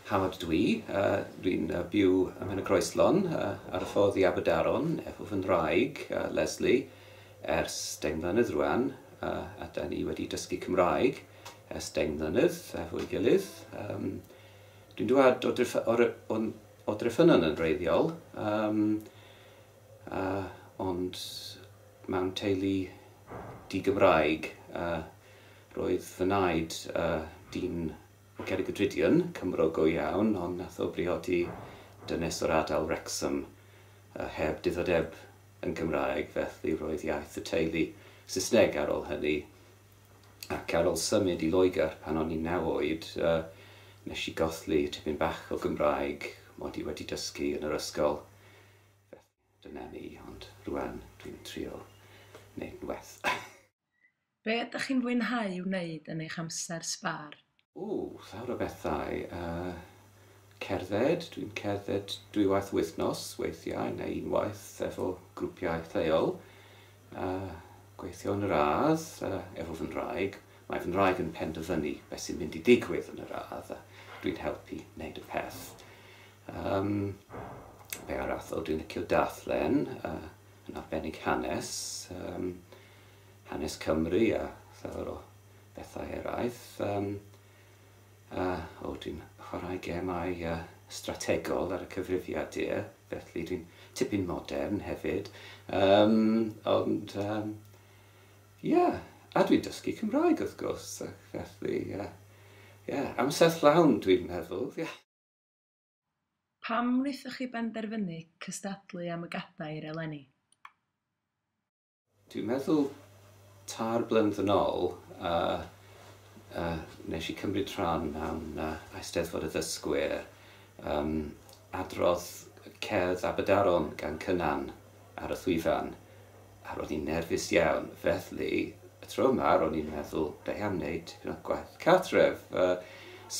Howard ydw i. Dwi'n byw ym Mhenygroeslon ar y ffordd i Aberdaron efo fy nhraig, Lesley, ers deng mlynedd rwan a 'da ni wedi dysgu Cymraeg ers deng mlynedd efo'i gilydd. Dwi'n dwad o O Dreffynnon yn wreiddiol, yym, yy, ond mewn teulu di-Gymraeg. Yy, roedd fy naid, yy, dyn o Gerrig y Drudion, Cymro go iawn, ond nath o briodi dynes o'r ardal Wrecsam, yy, heb diddordeb yn Gymraeg, felly roedd iaith y teulu Saesneg ar ol hynny. ac ar ol symud i Loegr pan o'n i'n naw oed, nes i golli tipyn bach o Gymraeg mod i wedi dysgu yn yr ysgol, felly dyna ni, ond rwan dwi'n trio neud yn well. Be ydych chi'n fwynhau wneud yn eich amser sbâr? Ww, llawer o bethau. Yy, cerdded, dwi'n cerdded dwywaith y wythnos weithiau, neu unwaith efo grwpiau lleol. Yy, gweithio yn yr ardd, yy, efo fy nhraig. Mae fy nhraig yn penderfynu beth sy'n mynd i digwydd yn yr ardd, a dwi'n helpu wneud y peth. Yym, be arall? O, dwi'n licio darllen, yy, yn arbennig hanes, yym, hanes Cymru a llawer o bethau eraill. Yym yy o dwi'n chwarae gemau yy strategol ar y cyfrifiad dir, felly dwi'n tipyn modern hefyd. Yym ond yym ie, a dwi'n dysgu Cymraeg wrth gwrs ac felly yy ie, amser llawn dwi'n meddwl ie. Pam wnaethoch chi benderfynu cystadlu am y gadair eleni? Dwi'n meddwl tair blynedd yn ol yy yy nesh i cymryd rhan mewn yy Eisteddfod y Ddysgwyr yym adrodd cerdd Aberdaron gan Cynan ar y llwyfan a ro'n i'n nerfus iawn felly y tro yma ro'n i'n meddwl da iawn neud tipyn o gwaith cartref yy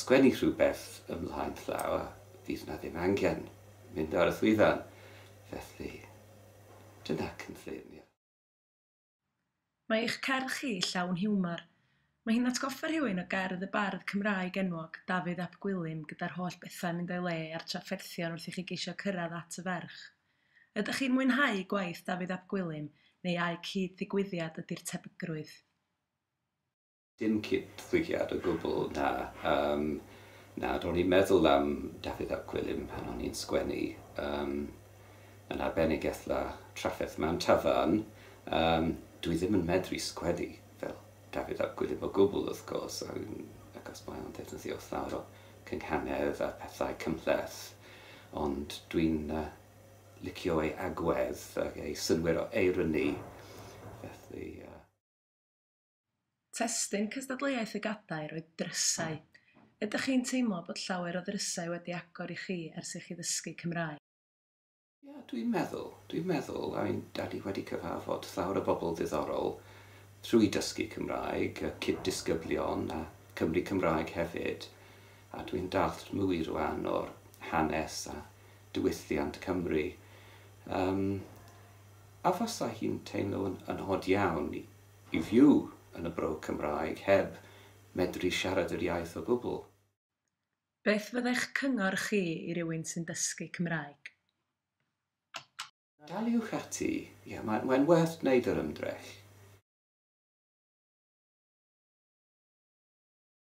sgwennu rhywbeth ymlaen llaw a fydd 'na ddim angen mynd ar y llwyfan felly Dyna cynllun, ie. Mae eich cerdd chi llawn hiwmor. Mae hi'n atgoffa rhywun o gerdd y bardd Cymraeg enwog, Dafydd ap Gwilym, gyda'r holl bethau'n mynd o'i le a'r trafferthion wrth i chi geisio cyrraedd at y ferch. Ydych chi'n mwynhau gwaith Dafydd ap Gwilym, neu ai cyd-ddigwyddiad ydy'r tebygrwydd? Dim cyd-ddigwyddiad o gwbl, na. Yym, na, ro'n i'n meddwl am Dafydd ap Gwilym pan o'n i'n sgwennu. Yym, yn arbennig ethla trafferth man tafarn. Yym, dwi ddim yn medru sgwennu fel Dafydd ap Gwilym o gwbl, wrth gwrs, achos mae o'n defnyddio llawer o gynghanedd a phethau cymhleth, ond dwi'n licio ei agwedd ac ei synnwyr o eironi, felly yy. Testun cystadleuaeth y Gadair oedd Drysau. Ydych chi'n teimlo bod llawer o ddrysau wedi agor i chi ers i chi ddysgu Cymraeg? Ia, dwi'n meddwl. Dwi'n meddwl, I mean, da ni wedi cyfarfod llawer o bobl ddiddorol trwy dysgu Cymraeg, y cyd-disgyblion a Cymry Cymraeg hefyd, a dwi'n dallt mwy rwan o'r hanes a diwylliant Cymru. Yym, a fasa hi'n teimlo yn od iawn i I fyw yn y Bro Cymraeg heb medru siarad yr iaith o gwbl. Beth fyddai'ch cyngor chi i rywun sy'n dysgu Cymraeg? Daliwch ati, ie, mae'n werth gwneud yr ymdrech.